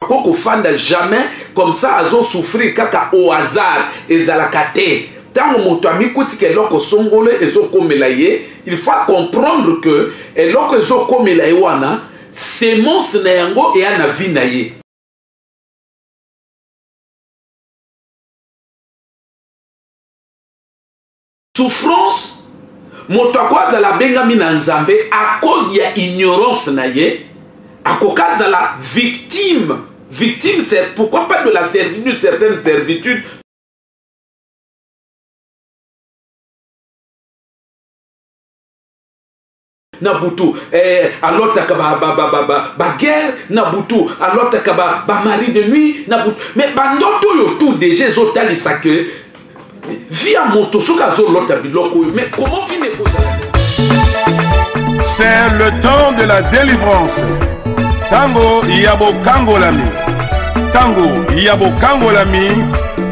ko kofanda jamais comme ça azo souffrir kaka au hasard ezalaka te ntango moto amikutika eloko songolo ezokomela ye il faut comprendre que eloko ezokomela ye wana semence na yango eya na vie na ye souffrance moto ako azala abengami na nzambe a cause ya ignorance na ye akoki azala victime victime c'est pourquoi pas de la servitude certaine servitude na butu eh, alotaka baguerre ba, ba, ba, ba, ba na butu alotaka bamari ba de nuit na butu mais bandoto oyo tout déjà ezotalisa ke vi ya moto soki azolota biloko oyo mais comment vine ekozala c'est le temps de la délivrance ntango ya bokangolami ntango ya bokangolami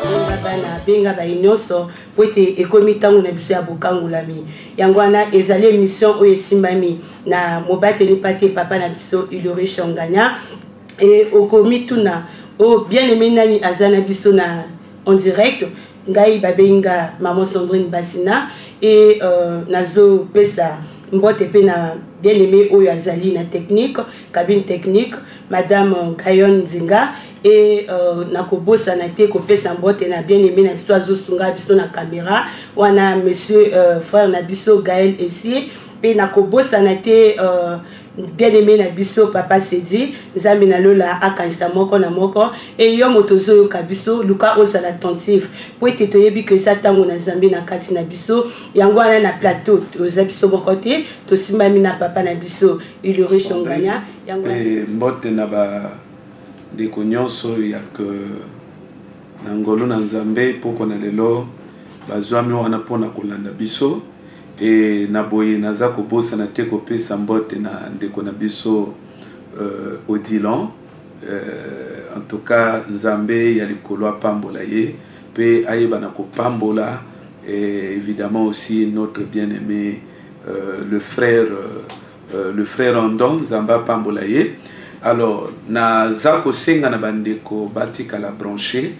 benga bana benga baye nyonso mpo ete ekomi ntango na biso ya bokangolami yango wana ezali emission oyo esimbami na mobateli mpate papa na biso ilore shonganya e okomituna o oh, bien aime nani aza na biso na en direct ngai babengi nga maman sandrine basina e uh, nazopesa mbote mpe na bien aime oyo azali na technique cabine technique madame gayon nzinga e uh, nakobosana te kopesa mbote na bien aime na biso azosunga biso na kamera wana monsieur uh, frère na biso gael esie mpe nakobosana te uh, bien aime na biso papa sedi nzambe na lola akanisa moko na moko e yo moto ozoyoka biso luka ozala attentive mpo ete toyebi ke eza ntango na zambe na kati na biso yango wana na plateau toza biso moko te tosimbami na papa na biso ilurishongania yango mbote na ba ndeko nyonso ya ke na ngolu na nzambe poko na lelo bazwami wana mpo na kolanda biso e na boye naza kobosana te kopesa mbote na ndeko na biso uh, odilon uh, en tout cas nzambe ya likolo apambola ye mpe ayeba na kopambola et eh, évidemment aussi notre bien aimé uh, le frère uh, Euh, le frère Andon Nzambe apambola ye alors naza kosenga na bandeko batikala branche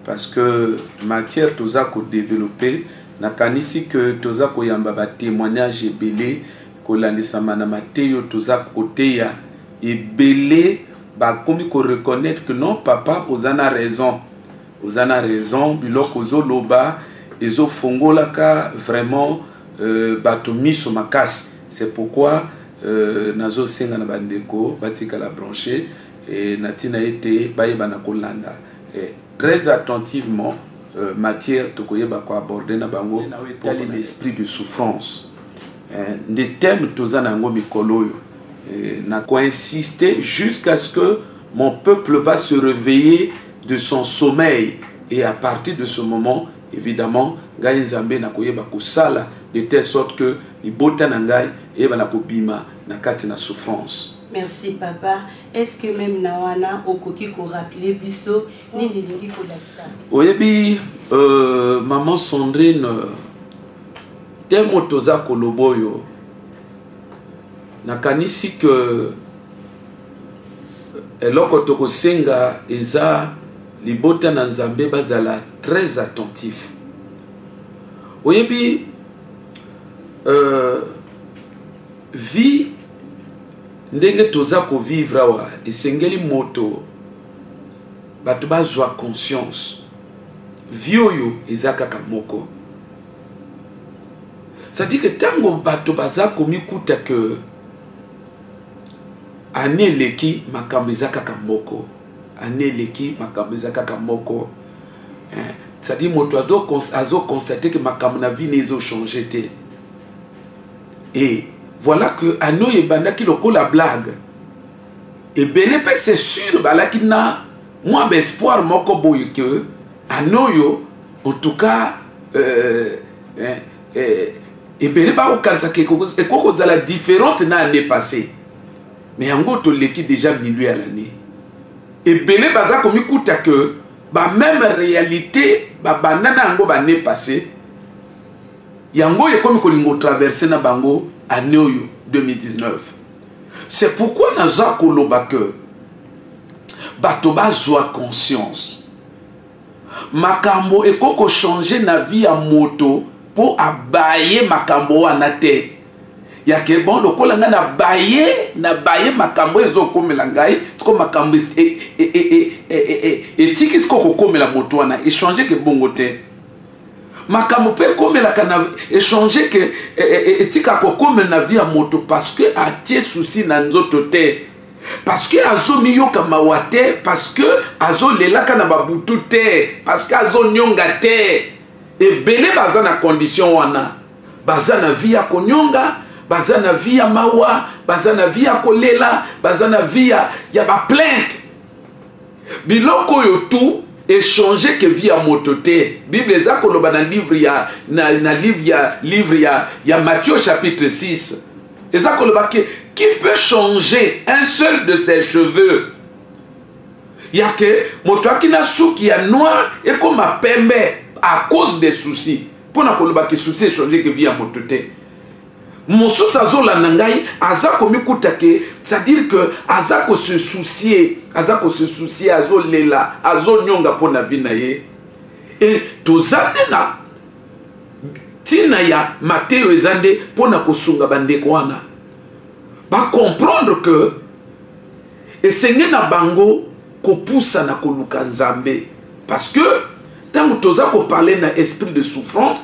parce que matière toza kodeveloppe nakanisi que toza koyamba batémoignage ebele kolandisama na mateya oyo toza koteya ebele bakomi koreconnaitre que non papa oza na raison oza na raison biloko ozoloba ezofongolaka vraiment euh, bato miso makasi C'est pourquoi euh, nazo senga na bandeko batikala branche eh, na tina ete bayebana kolanda eh, très attentivement euh, matière tokoyeba ko aborder na bango etali l'esprit de souffrance eh, nde thème toza na yango mikolo oyo eh, na koinsiste jusqu'à ce que mon peuple va se réveiller de son sommeil et à partir de ce moment Evidemment, ngai Nzambe na koyeba kosala de telle sorte que libota na ngai eyeba na kobima na kati na souffrance. Merci papa. Est-ce que même na wana okoki ko rappeler biso nini lingi ko lakisa? Oyebi euh, maman Sandrine te moto oza koloba oyo nakanisi ke eloko tokosenga eza libota na nzambe bazala très attentif oyebi euh, vie ndenge toza kovivre awa esengeli moto bato bazwa conscience vie oyo eza kaka moko cetadire ke ntango bato baza komikuta ke ane eleki makambo eza kaka moko année eleki makambo eza kaka moko eh, cetadire moto azoconstate ke makambo na vie ne ezochange te e voilà que année oyo ebandaki lokola blague ebele mpe c'est sûr balaki na mwa baespoir moko boye ke année oyo en tout cas euh, eh, eh, ebele bakokanisa ke ekoki kozala différente na année passée mais yango toleki déjà milieu ya l'année ebele baza komikuta ke bameme réalité babanda na yango bane passé yango oyo ekomi kolinga otraverse na bango année oyo 2019 c'est pourquoi naza koloba ke bato bazwa conscience makambo ekoki kochange na vie ya moto mpo abaye makambo wana te ya ke bon lokola ngai na baye na baye makambo oyo ezokomela ngai siko makambo etiki siko kokomela moto wana echange ke bongo te makambo mpe ekomelaka na echange ke e, e, e, etika kokomela na vie ya moto parce que atie souci na nzoto te parce que azomiyoka mawa te parce que azolelaka na babutu te parce que azonyonga te ebele baza na condition wana baza na vie ya konyonga baza na vie ya mawa baza na vie ya kolela baza na vie ya, ya baplainte biloko oyo tu echange ke vie ya moto te bible eza koloba na livre ya, na, na livre ya, livre ya, ya matthieu chapitre 6 eza koloba ke qui peut changer un seul de ses cheveux ya ke moto aki na suki ya noir ekoma pembe à cause des soucis mpo na koloba ke souci echange ke vie ya moto te mosusu azolanda ngai aza komikuta ke c'est-à-dire que aza kose soucie aza kose soucie azolela azonyonga mpo na vie na ye e toza nde na ntina ya mateyo eza nde mpo na kosunga bandeko wana bacomprendre que esenge na bango kopusa na koluka nzambe parce que ntango toza koparle na esprit de souffrance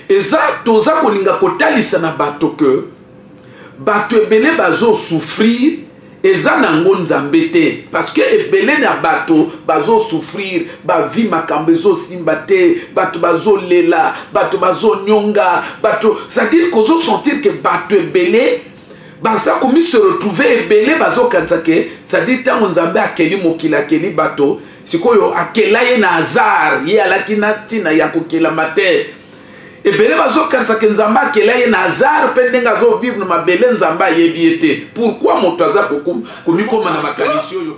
eza toza kolinga kotalisa na bato ke bato ebele bazosouffrir eza na yango nzambe te parce que ebele na bato bazosouffrir bavi makambo ezosimba te bato bazolela bato bazonyonga bato cestadire kozosentir ke bato ebele baza komise retrouve ebele bazokanisa ke cetadire ntango nzambe akeli mokili akeli bato sikoyo akela ye na hasard ye alaki na ntina ya kokelama te ebele bazokanisa ke nzambe akela ye na hasard mpe ndenge azovivre na mabele nzambe ayebi ye te pourkui moto aza komikoma na makanisi oyo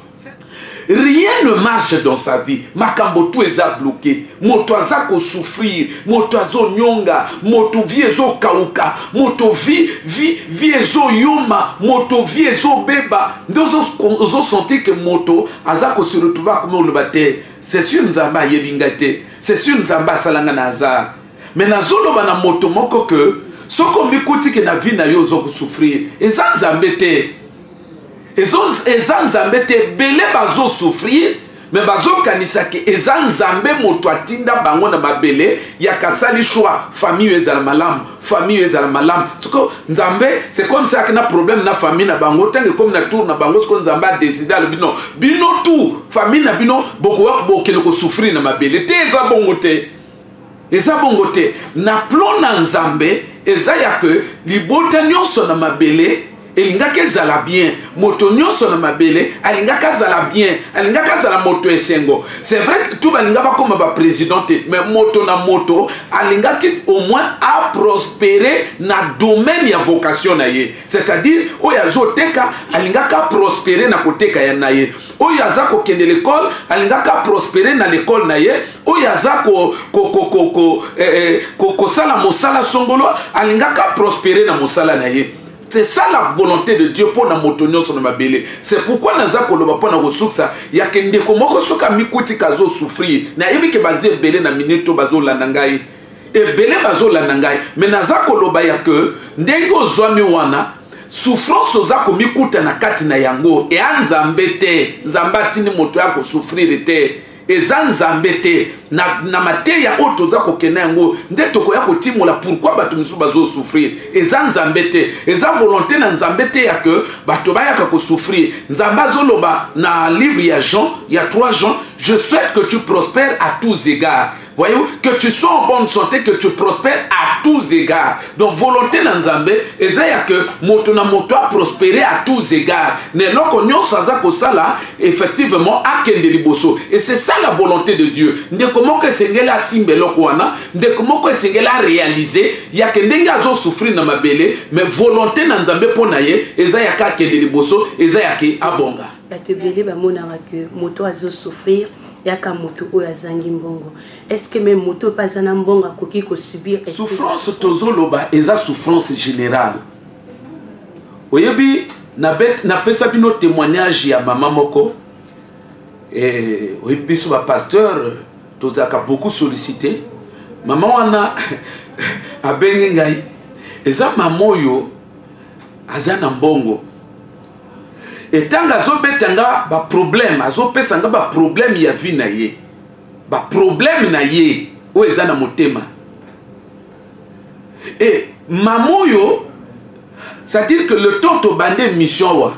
rien ne marche dans sa vie makambo tu eza bloke moto aza kosouffrir moto azonyonga moto vi ezokauka moto vi vi vi ezoyoma moto vi ezobeba nde ozosentir ke moto aza kose retrouve akoma oloba te c'est sur nzambe ayebi ngai te c'est sur nzambe asala ngai na hasard mais nazoloba na moto moko ke soki omikuti ke na vie na yo ozokosouffrir eza nzambe te eza nzambe te ebele bazosouffrir me bazokanisa ke eza nzambe moto atinda bango na mabele ya kasali shwa famille oyo ezala malamu famille oyo ezala malamu siko nzambe c'est comme ça na problème na famille na bango ntango ekomi na tour na bango siko nzambe adeside alobi no bino tout famille na bino bokokende kosouffrir na mabele te eza bongo te eza bongo te na plan na nzambe eza ya ke libota nyonso na mabele elingaki ezala bien moto nyonso na mabele alingaki azala bien alingaki azala moto esengo c'est vrai que tu balinga bakoma baprésident te mais moto na moto alingaki au moins aprospere na domaine ya vocation na ye c'est-à-dire oyo azoteka alingaki aprospere na koteka ya na ye oyo aza kokende lekole alingaki aprospere na lekole na ye oyo aza kosala eh, eh, mosala songolo alingaka prospere na mosala na ye c'est ça la volonté de dieu mpo na moto nyonso na mabele c'est pourquoi naza koloba mpo na kosukisa yake ndeko moko soki amikuti kazosouffrir nayebi ke baza ebele na minute to bazolanda ngai ebele bazolanda ngai me naza koloba ya ke ndenge ozwami wana souffrance oza komikuta na kati na yango eya nzambe te nzambe atindi moto ya kosouffrire te eza nzambe te na, na mateya oyo toza kokenda yango nde tokoya kotimola pourkui bato mosusu bazosouffrir eza nzambe te eza volonté na nzambe te ya ke bato bayaka kosouffrir nzambe azoloba na livre ya jean ya 3 jean je souhaite que tu prospère à tous égards Voyez-vous, que tu sois en bonne santé, que tu prospères à tous égards. Donc, volonté na Nzambe, ezaya que moto na moto a prospéré à tous égards. Mais loko nyonso aza kosala, effectivement, akende liboso. Et c'est ça la volonté de Dieu. Ndeko moko esengeli asimbe loko wana, ndeko moko esengeli a réaliser, ya que ndenge azo souffrir na mabele, mais volonté na Nzambe po na ye, ezaya ka akende liboso, ezaya ke abonga. Bato ebele bamonaka que moto azo souffrir yaka moto oyo azangi mbongo estce meme moto oyo mpe aza na mbongo akoki kosubir souffrance tozoloba eza souffrance générale oyebi napesa bino témoignage ya mama moko eh, oyebi biso bapasteur tozalaka beaucoup sollicité mama wana abengi ngai eza mama oyo aza na mbongo etanga azobeta nga baproblème azopesa nga baproblème ya vie na ye baproblème na ye oyo eza na motema e mama oyo c'est-à-dire que le temps tobanda émission awa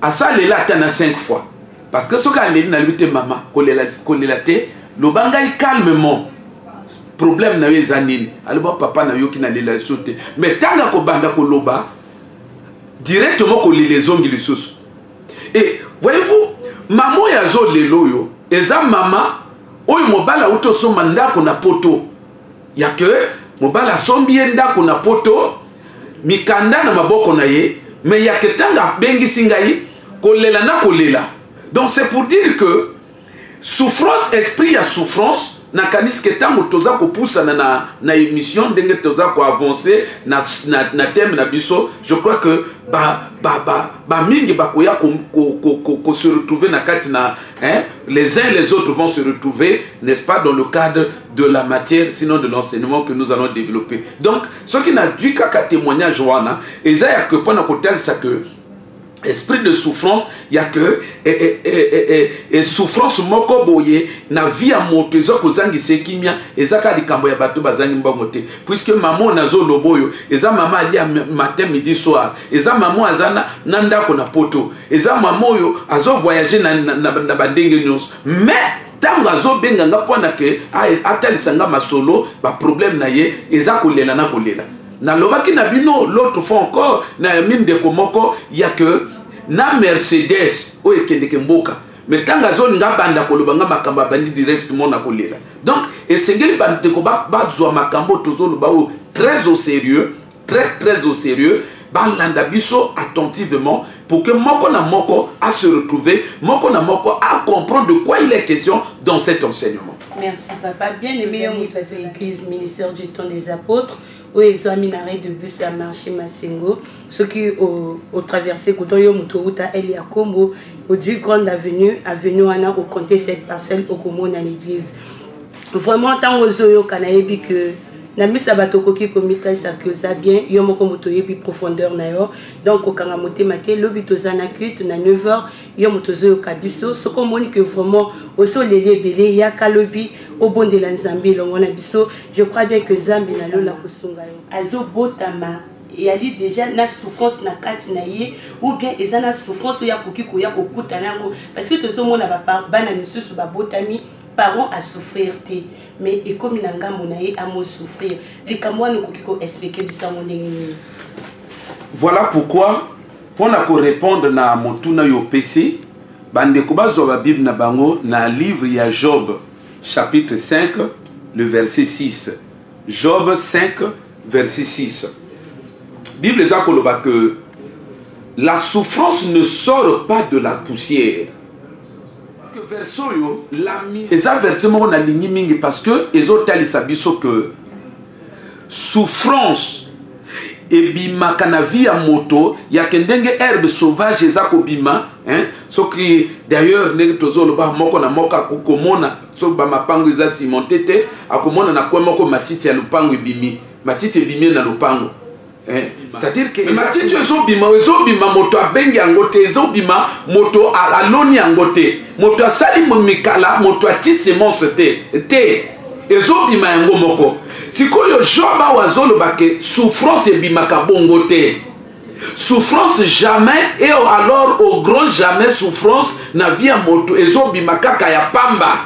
asalela ata na 5 fois parce que soki aleli nalobi te mama kolela, kolela te loba ngai calmement problème na yo eza nini aloba papa nayoki nalela so te mais ntango akobanda koloba directement kolela ezongi lisusu e eh, voyez-vous mama oyo azolela oyo eza mama oyo mobali auti osomba ndako na poto ya ke mobali asombi ye ndako na poto mikanda na maboko na ye me yake ntango abengisi ngai kolela na kolela donc c'est pour dire que souffrance esprit ya souffrance nakanisi ke ntango toza kopusana na, na émission ndenge toza koavance na, na, na thème na biso je crois que bamingi ba, ba, ba bakoya kose ko, ko, ko, ko se retrouver na kati na hein, les uns les autres vont se retrouver n'est-ce pas dans le cadre de la matière sinon de l'enseignement que nous allons développer donc soki nazwi kaka témoignage wana eza ya ke mpo na kotalisa que esprit de souffrance ya ke e, e, e, e, souffrance moko boye na vie ya moto eza kozangisa ye kimia eza kaka likambo ya bato bazangi mbongo te puiske mama oyo nazoloba oyo eza mama alia matin midi soir eza mama oyo aza na, na ndako na poto eza mama oyo azovoyage na, na, na, na bandenge nyonso mais ntango azobenga nga mpo na ke atalisa nga masolo baproblème na ye eza kolela na kolela nalobaki na bino l'autre fois encore na yami ndeko moko ya ke na mercedes oyo ekendeke mboka me ntango azoni nga banda koloba nga makambo abandi directement na kolela donc esengeli bandeko bazwa makambo tozoloba oyo très au sérieux très très au sérieux balanda biso attentivement pour que moko na moko a se retrouver, moko na moko a comprendre de quoi il est question dans cet enseignement. Merci papa. Bien aimé Moutato Église, ministère du temps des apôtres, où ils ont mis arrêt de bus à marché Massengo, ceux qui ont, ont traversé Koto Yomutouta, El Yakombo, au du Grande Avenue, Avenue Anna, au compter cette parcelle au Komo dans l'église. Vraiment, tant aux yeux, qu'on a dit que na misa bato okoki komitalisa que oza bien yo moko moto oyebi profondeur na yo donc kokanga motema te lobi toza na culte na 9h yo moto ozoyoka biso soki omoni que vraiment osi oleli ebele yaka lobi obondela nzambe elongo na biso je crois bien que nzambe na lola kosunga yo azobotama eyali déjà na souffrance na kati na ye ou bien eza na souffrance oyo akoki koya kokutana yango parce que tozomona bana misusu babotami parent asouffrir te mais ekomi na ngambo na ye amo souffrir likambo wana okoki ko expliquer biso yango ndenge nini voilà pourquoi mpo na korépondre na motuna yo opesi bandeko bazwa babible na bango na livre ya job chapitre 5 le verset 6 job 5 verset 6 bible eza koloba que la souffrance ne sort pas de la poussière verse oyo eza verse moko nalingi mingi parce que ezotalisa biso que souffrance ebimaka na vie ya moto yake ndenge herbe sauvage eza kobima hein? soki d'ailleurs ndenge tozoloba moko na moko akokomona soki bamapango eza cimente te akomona na kwe moko matiti ya lopango ebimi matiti ebimi na lopango Eh, c'est-à-dire que matiti ezobima ezobima moto abengi yango te ezobima moto aloni yango te moto asali mikala moto ati semence te te ezobima yango moko sikoyo job awa azoloba ke souffrance ebimaka bongo te souffrance jamais et alors au grand jamais souffrance na vie ya moto ezobima kaka ya pamba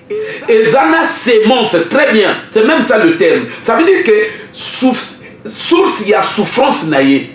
eza na semence très bien c'est même ça le terme ça veut dire que souf, source ya souffrance na ye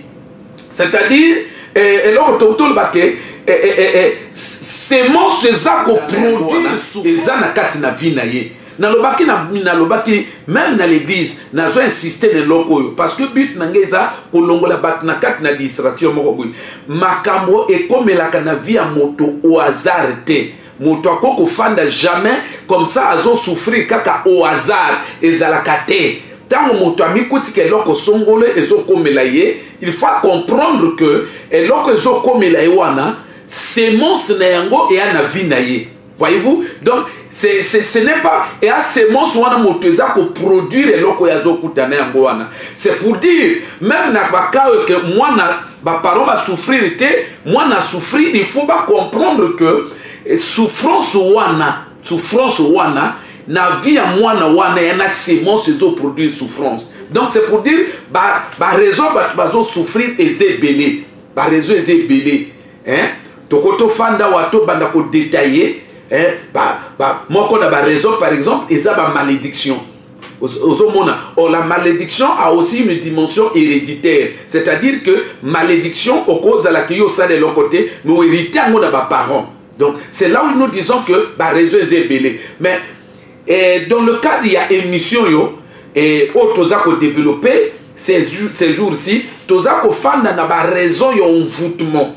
c'est-à-dire eh, eloko tokotoloba ke eh, eh, semence eza koproduire eza na kati na vie na ye nalobaki nalobaki meme na l'église nazo insiste na eloko oyo parce que but na ngai eza kolongola bato na kati na distraction moko boye makambo ekomelaka na vie ya moto au hasard te moto ako kofanda jamais comme ça azo souffrir kaka au hasard ezalaka te ntango moto amikutika eloko songolo ezokomela ye il faut comprendre que eloko ezokomela ye wana semence na yango eya na vie na ye voyez-vous donc c'est, c'est, ce n'est pas eya semence wana moto eza koproduire eloko oyo azokutana yango wana c'est pour dire même na bakaoyo ke mwana ba parents ba souffrir te mwana souffrir il faut ba comprendre que eh, souffrance wana souffrance wana na vie ya mwana wana ya na semence ezoproduire souffrance donc c'est pour dire baraison bato bazosouffrir eza ebele baraison eza ebele toko tofanda wa tobanda kodetaille moko na baraison par exemple eza bamalédiction ozomona or oh, la malédiction a aussi une dimension héréditaire c'est-à-dire que malédiction okozalaka yo osala eloko te mais oherite yango na baparent donc c'est là où nous disons que bareseau eza ebele mais eh, dans le cadre ya émission yo eh, oyo oh, toza kodéveloppe ces jours-ci toza kofanda na baraison ya envoûtement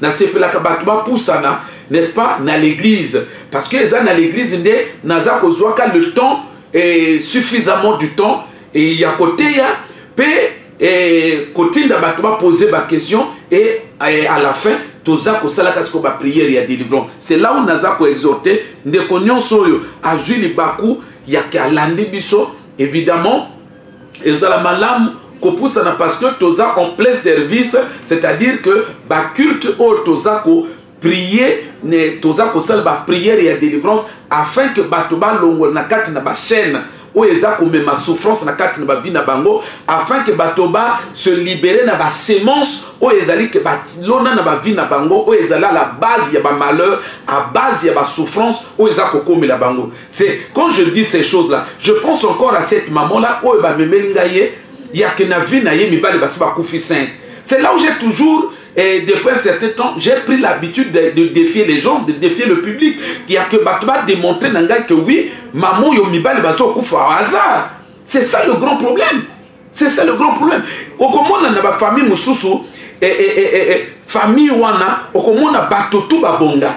nasepelaka bato bapusana n'est-ce pas na l'église parce que eza na l'église nde naza kozwaka le temps eh, suffisamment du temps eh, ya koteya mpe eh, kotinda bato bapose baquestion et eh, à la fin toza kosalaka siko bapriere ya délivrance c'est là où naza koexhorte ndeko nyonso oyo azwi libaku yake alandi biso évidemment ezala malamu kopusana parce que toza en plein service c'est-à-dire que baculte oyo toza ko prier ne toza kosala bapriere ya délivrance afin que bato balongola na kati na bachaîne oyo eza komema souffrance na kati na bavi na bango afin que bato ba se libere na basemence oyo ezali ke balona na bavi na bango oyo ezali la base ya bamalheur a base ya basouffrance oyo eza kokomela bango C'est quand je dis ces choses là, je pense encore à cette maman là oyo ba memeli nga ye ya que na vie na ye mibale basi ba kufi 5. C'est là où j'ai toujours et depuis un certain temps, j'ai pris l'habitude de, de, défier les gens, de défier le public. Il y a que Batba démontrer Nangai que oui, maman yo mibale bazo kufa au hasard. C'est ça le grand problème. c'est ça le grand problème okomona na bafamille mosusu eh, eh, eh, eh, eh, famille wana okomona bato tu babonga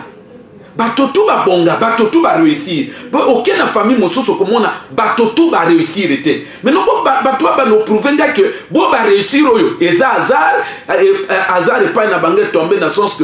bato tu babonga bato tu baréussir oke na famille mosusu okomona bato tu baréussir te maintenant bo bato babanda oprouve nga ke bo baréussir oyo eza hasard eh, eh, hasard epai na bango etombe na sens que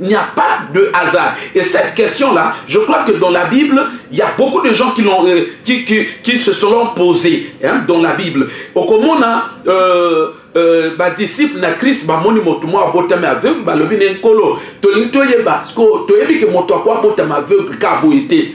Il n'y a pas de hasard. Et cette question-là, je crois que dans la Bible, il y a beaucoup de gens qui, l'ont, euh, qui, qui, qui se sont posés hein, dans la Bible. Au comment euh, euh, ba disciple na Christ ba moni moto mo abotami aveugle ba lobi ne nkolo tolingi toyeba siko toyebi ke moto akwa abotami aveugle ka boye te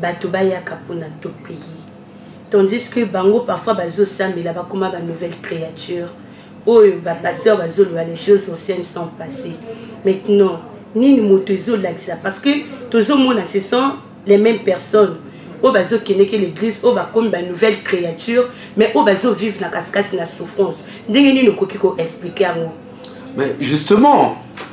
bato bayaka mpona to pays tandis que bango parfois bazosambela bakoma ba nouvelle créature oyo bapasteur bazoloba les choses anciennes sont passées maintenant nini moto ezolakisa parce que tozomona ce sont les mêmes personnes oyo bazokendeke l'église oyo bakomi ba nouvelle créature mais oyo bazovivre na kasikasi na souffrance ndenge nini okoki koexplike yango mais justement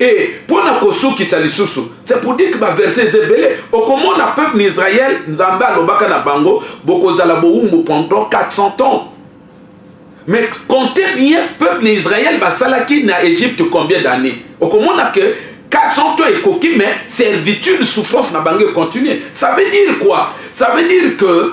e mpo na kosukisa lisusu c'est pour dire que baverse eza ebele okomona peuple na israel nzambe alobaka na bango bokozala bowumbu pendant 400 ans mais compte bien peuple na israel basalaki na egypte combien d'année okomona que 400 ans ekoki mais servitude souffrance na bango econtinue ça veut dire quoi ça veut dire que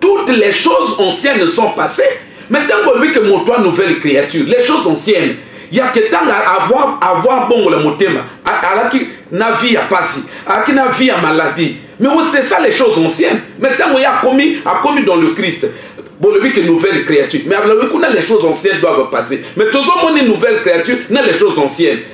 toutes les choses anciennes sont passées mais ntango olobi ke moto a nouvelle créature les choses anciennes yake ntanga avoir, avoir bongo la motema alaki na vie ya pasi alaki na vie ya maladie mais c'est ça les choses anciennes mais ntango ye akomi akomi dans le christ bolobi ke nouvelle créature mais abalobi kuna les choses anciennes doivent passer mais tozomoni nouvelle créature na les choses anciennes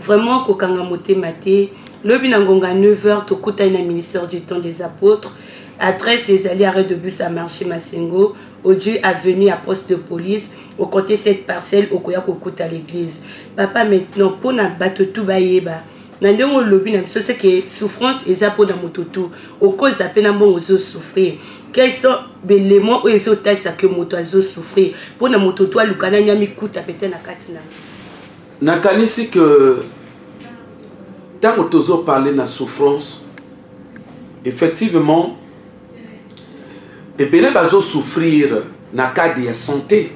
vraiment kokanga motema te lobi na ngonga 9h tokutani na ministère du temps des apôtres adresse ezali arrêt de bus à marché masengo odui avenue ya poste de police ocompte cette parcelle okoya kokuta l'église papa maintenant mpo na bato tu bayeba na ndenge olobi na biso seke souffrance eza mpo na moto tu okozela mpe na mbongo ozosouffrir quels sont belemon oyo ezotalisa ke moto azosouffrir mpo na moto tu aluka nani amikuta pete na kati na nakanisi ke ntango tozoparle na souffrance effectivement ebele bazosouffrir na kade ya sante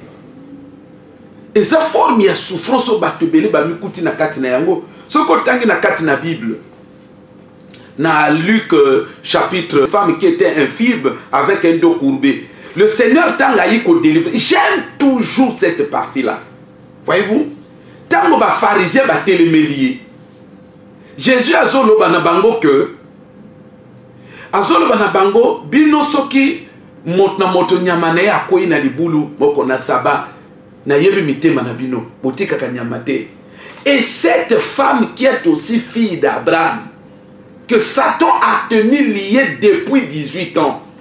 eza forme ya souffrance oyo bato ebele bamikuti na kati na yango soki otangi na kati na bible na luc euh, chapitre femme qui était infirme avec un dos courbé le seigneur ntango ayi kodelivre j'aime toujours cette partie là voyez-vous ntango bafarisien batelemeli ye jésus azoloba na bango ke azoloba na bango bino soki moto na moto nyama na ye akwei na libulu moko na saba nayebi mitema na bino botikaka nyama te et cette femme qui est aussi fille d'abraham que satan a tenu liye depuis 18 ans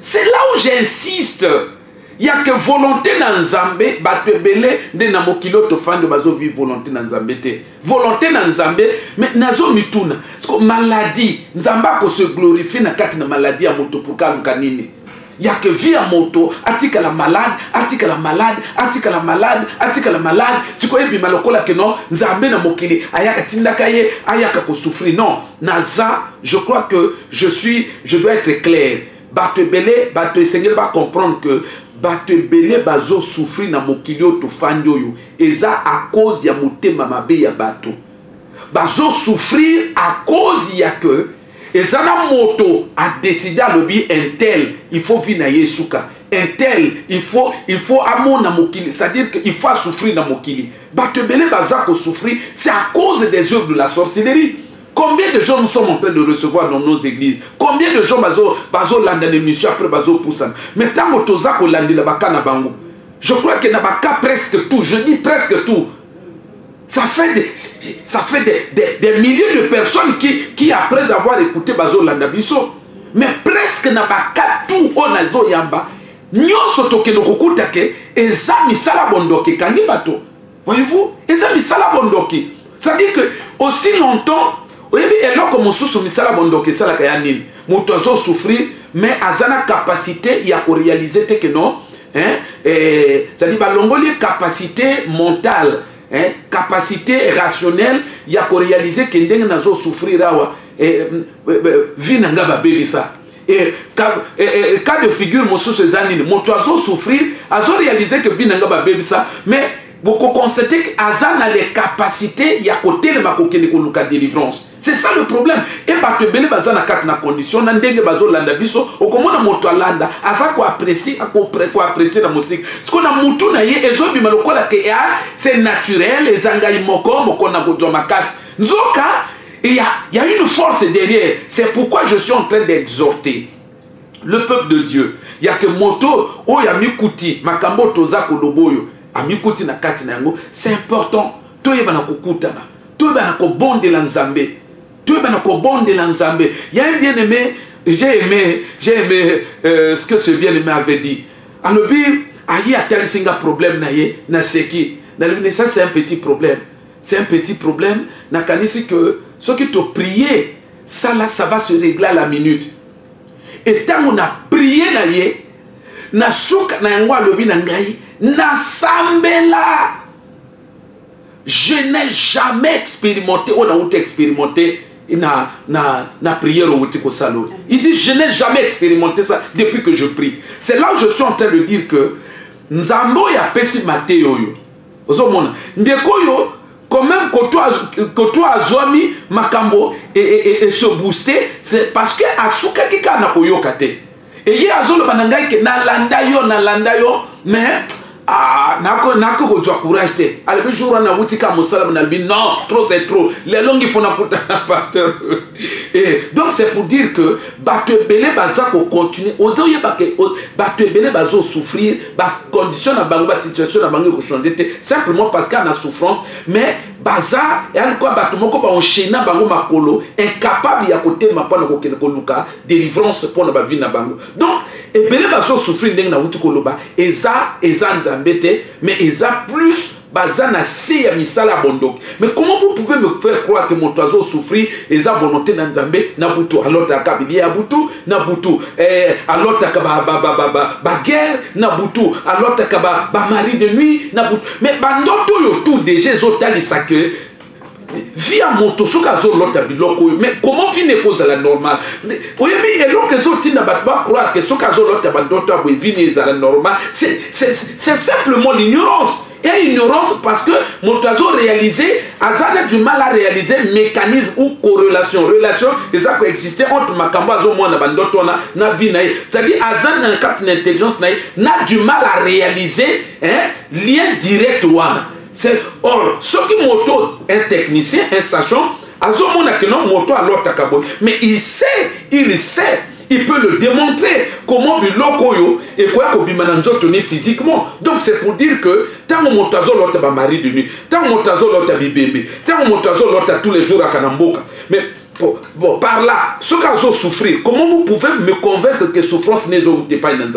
c'est là où j'insiste ya ke volonté na nzambe bato ebele nde na mokili oyo tofandi bazovi volonté na nzambe te volonté na nzambe me nazo mituna siko maladie nzambe akose glorifie na kati na maladie ya moto pourka aluka nini ya ke vie ya moto atikala malade atikala malade atikala malade atikala malade sikoyo ebima lokola ke non nzambe na mokili ayaka atindaka ye ayaka kosouffrir non naza je crois que je suis je dois être clair bato ebele bato esengeli bacomprendre que bato ebele bazosouffrir na mokili oyo tofandi oyo eza à cause ya motema mabe ya bato bazosouffrir à cause ya que eza na moto adeside alobi intel il faut vi na ye esuka intel il faut il faut amona mokili c'est-à-dire que il faut asouffrir na mokili bato ebele baza kosouffrir c'est à cause des œuvres de la sorcellerie combien de gens nous sommes en train de recevoir dans nos églises combien de gens bazolanda na émission après bazopusana mais ntango toza kolandela baka na bango je crois que na baka presque tout je dis presque tout ça fait des, ça fait des, des, des milliers de personnes qui, qui après avoir écouté bazolanda biso mais presque na baka tout oyo nazoyamba Nionso tokende kokuta ke eza misala bondoki kangi bato. Voyez-vous? Eza misala bondoki. C'est-à-dire que aussi longtemps oyebi eloko mosusu misala bondoki esalaka ya nini? Moto azo souffrir mais aza na capacité ya ko réaliser te que non hein, eh, c'est-à-dire balongoli capacité mentale hein, capacité rationnelle ya ko réaliser ke ndenge nazo souffrir awa eh, eh, eh, vie na nga babebisa Eh, cas eh, eh, de figure mosusu eza nini moto azosouffrir azorealise ke vie na nga babebisa mais bokokonstate ke aza na le capacité ya kotelema kokende koluka délivrance c'est ça le problème e bato ebele baza na kati na condition na ndenge bazolanda biso okomona moto alanda aza koaprecie koaprecie na mosika sikoyo na motu na ye ezobima lokola ke a ah, c'est naturel eza ngai moko moko na kozwa makasi nzoka Et il y a, y a une force derrière. C'est pourquoi je suis en train d'exhorter le peuple de Dieu. Il y a que moto, oh ya mikuti, makambo toza koloboyo, a mikuti na kati na yango, c'est important. Toi yeba na kukutana, toi yeba na kobondela nzambe, toi yeba na kobondela nzambe. Il y a un bien aimé, j'ai aimé, j'ai aimé euh, ce que ce bien aimé avait dit. Alors puis, ayi atali singa problème na ye, na seki. Na ça c'est un petit problème. c'est un petit problème nakanisi que soki to prier sala ça va se régler à la minute etango na prier na ye na suka na yango alobi na ngai nasambela je n'ai jamais expérimenté oyo nauti expérimenté na, na, na prière outi kosala oyo il dit je n'ai jamais expérimenté ça depuis que je prie c'est là où je suis en train de dire que nzambe oyo apesi mateyo oyo ozomona ndeko oyo quand même koto azwami makambo e, e, e, ese booste c'est parce que asukaki kaka na koyoka te eye azoloba na ngai ke nalanda yo nalanda yo mais ah, nako kozwa courage te alobi jour wana awuti kaka mosala nalobi non trop c'est trop lelo ngifo nakutana pasteur eh, donc c'est pour dire que bato ebele baza kocontinue oza oyeba ke bato ebele bazosouffrir bacondition na bango basituation na bango ekochange te simplement parce qu'ana souffrance mais baza yani kwa bato moko baenchaine na bango makolo incapable ya kotelema mpo na kokende koluka délivrance mpo na bavie na bango donc ebele bazosouffrir ndenge nauti koloba eza eza nzambe te mais eza plus baza na se ya misala ya bondoki mais comment vous pouvez me faire croire que moto azo souffrir eza volonté na nzambe na butu alotaka bilia ya butu na butu eh, alotaka baguerre ba, ba, ba, ba, ba guerre, na butu alotaka bamari ba de nuit na butu mais bandoto oyo tout déjà ezotalisa que vi ya moto soki azolota biloko oyo mais comment vini ekozala normal oyebi eloko ezotinda bato bacroire ke soki azolota bandoto ya boye vini ezala normal c'est simplement l'ignorance ya ignorance parce que moto azorealise aza na du mal a réaliser mécanisme ou correlation relation eza koexiste entre makambo azomona bandoto wana na vie na ye c'est-à-dire aza na kati na intelligence na ye na du mal a réaliser lien direct wana C'est or soki moto un technicien un sachant azomona que non moto alotaka boye mais il sait il sait il peut le démontrer comment biloko oyo ekoya kobima na nzoto ni physiquement donc c'est pour dire que ntango moto azolota bamari de nuit ntango moto azolota bibembe ntango moto azolota tous les jours aka na mboka mais Bon, bon, par là, ce cas souffrir, comment vous pouvez me convaincre que souffrance n'est pas une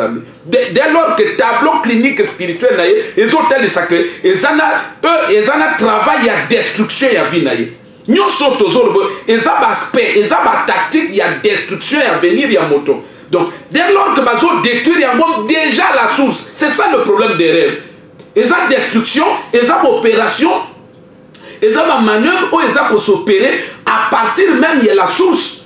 dès, dès lors que tableau clinique spirituel na ye ezotalisa ke eza na e, eza na travail ya destruction ya vie na ye nyonso tozoloba eza baaspect eza batactique ya destruction ya venir ya moto donc dès lors que bazodétruire yango déjà la source c'est ça le problème des rêves eza destruction eza baopération eza bamanœuvre oyo eza kosopere à partir même ya la source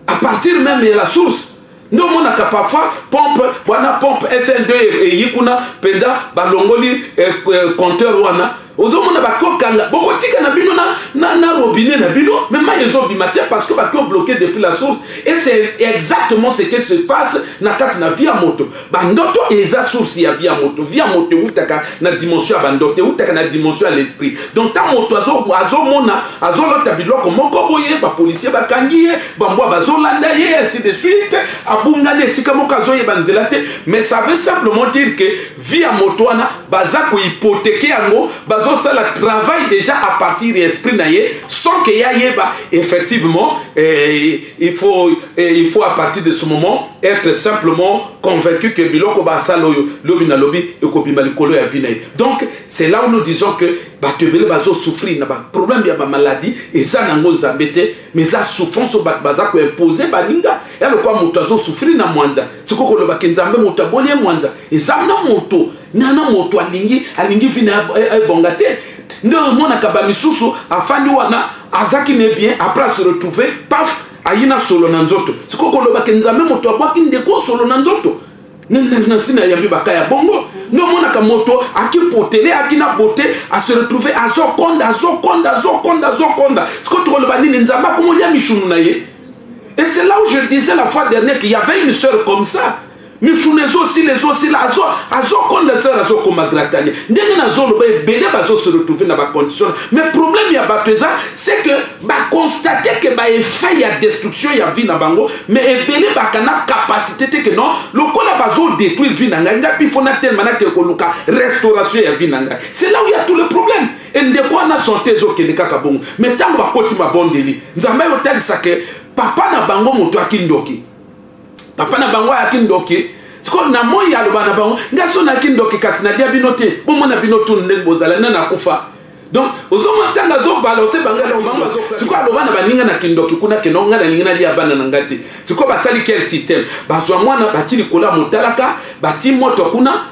à partir même ya la source nde omonaka parfois pompe wana pompe sn2 eyi kuna mpenza balongoli eh, eh, compteur wana ozomona bakokanga bokotika na bino na, na, na robinet na bino me mai ezobima te parce que bakio bloqué depuis la source et c'est exactement ce qui se passe na kati na vie ya moto bandoto eza source ya vie ya moto vie ya moto ewutaka na dimension ya bandoto ewutaka na dimension ya l'esprit donc ntango moto azomona azolota biloko moko boye bapolisier bakangi ye bambwa bazolanda ye ainsi de suite abungani esika moko azoyeba nzela te mais ça veut simplement dire que vie ya moto wana baza kohypotheke yango bazosala travail déjà à partir ya esprit na ye sans ke ye ayeba effectivement eh, il faut, eh, il faut à partir de ce moment être simplement convaincu que biloko basala oyo lobi na lobi ekobima likolo ya vie na ye donc c'est là où nous disons que bato ebele bazosouffrir na baproblème ya bamaladi eza nango nzambe te mais eza souffrance oyo bato baza koimpose baninga ya lokola moto azosouffrir na mwanza sikoyo kolobaki nzambe moto aboli ye mwanza eza na moto nana moto alingi alingi vi na ebonga te nde omonaka bamisusu afandi wana azaki ne bien après a se retrouver paf ayi na solo na nzoto sikoyo koloba ke nzambe moto abwaki ndeko solo na nzoto nasi nayambi baka ya bongo nomonaka moto akipotele aki na bote ase retrouve azokonda azokonda azokonda azokonda sikoyo tokoloba nini nzambe akomolia mishunu na ye et c'est là où je disais la fois dernière qu'il y avait une sœur comme ça misuna ezosila ezosila azokonda sala azokoma gratani ndenge nazoloba ebele bazose retrouve na bacondition mais problème ya bato eza c'est que baconstate ke baeffet ya destruction ya vie na bango mais ebele baka na capacité te ke non lokola bazodétruire vie na ngai ngai mpe mpo natelema nakee koluka restauration ya vie na ngai c'est là où ya tout le problème endeko wana sante ezokende kaka bongo mais ntango bakoti mabondeli nzambe otalisa ke papa na bango moto akindoki papa na bango ayaki ndoki sikoyo na moi aloba na bango ngai so nayaki ndoki kasi nalia bino te bomona bino tunu ndenge bozala nani akufa donc ozomona ntango azobala osebangaaosikoyo aloba na baninga na kindoki kuna keno ngai nalingi nalia bana na ngai te sikoyo basali quel système bazwa mwana bati likolo ya motalaka bati moto kuna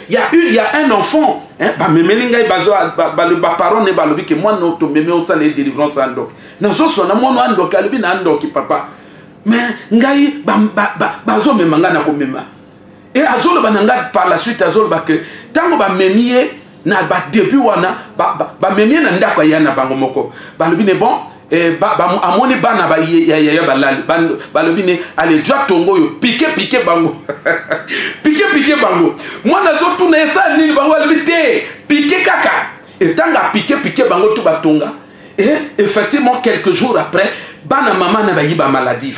Il y a une, il y a un enfant. Hein, ba memeli ngai bazo ba, ba, ba parents ne balobi que moi no to meme au sale délivrance andok. Na so so na mono andok alobi na andok papa. Mais ngai ba ba, ba bazo mema ngai na ko mema. Et azolo bananga par la suite azolo ba que tango ba memie na ba début wana ba ba, ba memie na ndako ya na bango moko. Balobi ne bon Eh, ba, ba, amoni bana ba, ya, ya, ya balali balobi ne alejua tongo oyo pike pike bango pike pike bango mwana azotuna esala nini bango alobi te pike kaka etanga pike pike bango tu batonga e effectivement quelques jours après bana mama na bayi bamaladive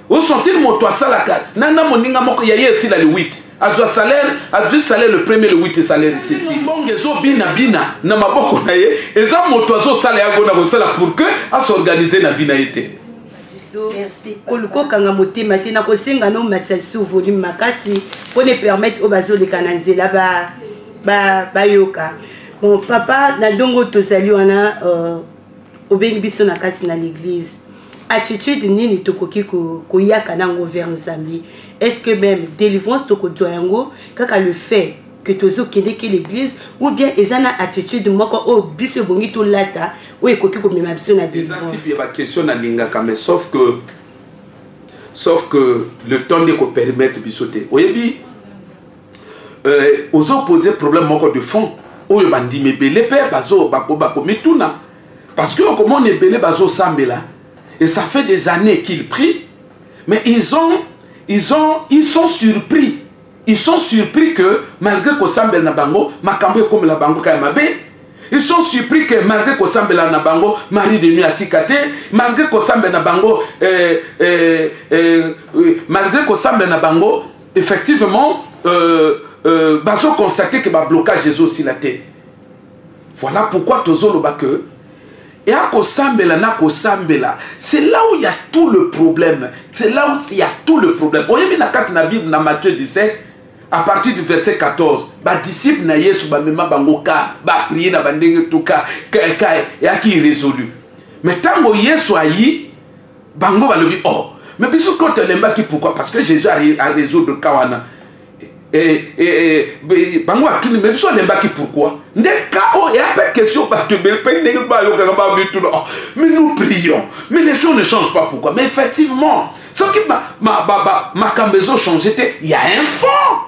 Où sont-ils moto asalaka na na moninga moko ya ye esila le 8 azwa salaire azwi salaire le premier le 8 salaire esesi mbongo ezobinabina na maboko na ye eza moto azosala yango na kosala pour que asorganize na vi na ye te kokanga motema te na kosenga no matisa lisusu volume makasi mpo na epermettre oyo bazoleka na nzela bayoka ba, ba bon papa na ndongo tozali wana uh, obengi biso na kati na l'église attitude nini tokoki koyaka na yango vers nzambe est ce que même délivrance tokozwa yango kaka le fait que tozokendeke l'église ou bien eza na attitude moko oyo biso ebongi tolata oyo ekoki komema biso na délivrance ya baquestion nalingaka mais sauf que sauf que le temps nde kopermettre biso te oyebi euh, ozo pose problème moko de fond oyo bandimi ebele mpe bakomituna bako parce que okomona ebele bazosambela et ça fait des années qu'ils prient mais ils ont ils ont ils sont surpris ils sont surpris que malgré kosambela na bango makambo ekomela bango kaya mabe ils sont surpris que malgré kosambela na bango marie de nuit atika te malgré kosambela na bango euh, euh, euh, malgré kosambela na bango effectivement euh, euh, bazo constate que bablocage ezosila te voilà pourquoi tozoloba que eya kosambela na kosambela c'est là où ya tout le problème c'est là où ya tout le problème oyebi na kati na bible na matthieu 17 à partir du verset 14 badisciple na yesu bamema bango ka baprie na bandenge tuka ka eyaki irésolu mais ntango yesu ayi bango balobi o oh, me biso to telembaki pourquoi parce que jésus arésoudre ka wana eh, eh, eh, bango batuni me biso alembaki pourquoi nde ka oyo eya mpe question bato ebele mpe ndenge bayokaka bamituna oh, mais nous prions mais les choses ne changent pas pourquoi mais effectivement soki makambo ezochanger te ya un fond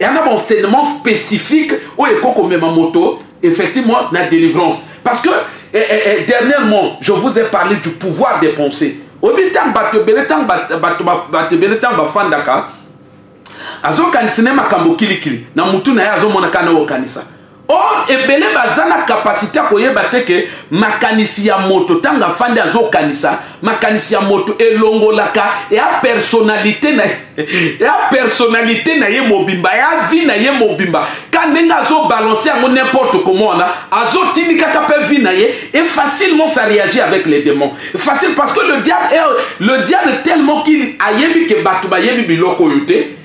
eya na baenseignement spécifique oyo ekoki komema moto effectivement na délivrance parce que eh, eh, eh, dernièrement je vous ai parlé du pouvoir des pensées oyebi ntango bato ebele ntango bato ebele ntango bafandaka azokanisa ne makambo kilikili na motu na ye azomonaka na okanisa or ebele baza na kapasite ya koyeba te ke makanisi ya moto ntango afandi azokanisa makanisi ya moto elongolaka ya personalite na ya personalite na ye mobimba ya vi na ye mobimba ka ndenge azobalanse yango nimporte comment wana azotindikaka mpe vi na ye et facilement ça réagit avec les démons facile parce que le diable, le diable tellement qu'il ayebi ke bato bayebi biloko oyo te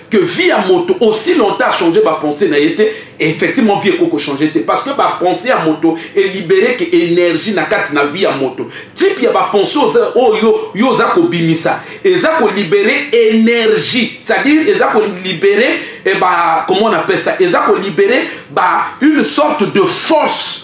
que vie ya moto aussi longtemps achanger bapense na ye te effectivement vie ekoki kochange te parce que bapense ya moto elibereke énergie na kati na vie ya moto type ya bapense oyo yo oza kobimisa eza kolibere énergie c'est-à-dire eza kolibere eh, comment on appelle ça eza kolibere une sorte de force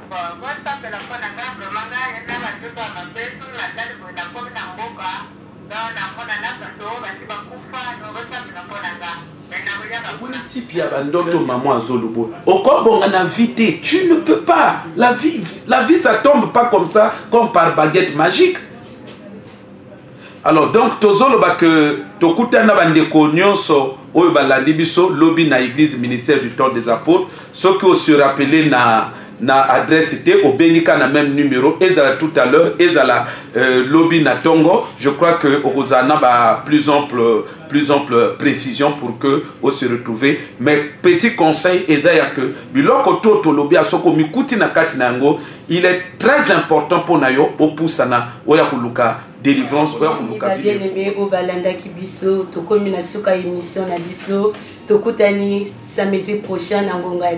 ndoto maman azolobola okobonga na vie te tu ne peux pas la vie, la vie ça tombe pas comme ça comme par baguette magique alors donc tozoloba ke tokutani na bandeko nyonso oyo balandi biso lobi na église ministère du temps des apôtres soki oserappele na na adresse te obengi ka na même numéro ezala tout à l'heure ezala euh, lobi na tongo je crois que okozala na ba plus ample plus ample précision pour que o se retrouver mais petit conseil eza ya que biloko to tolobi ya soki omikuti na kati na yango il est très important mpo na yo opusana oya koluka délivrance oya koluka bien-aimé oyo balandaki biso tokomi na suka émission na biso tokutani samedi prochain na ngonga ya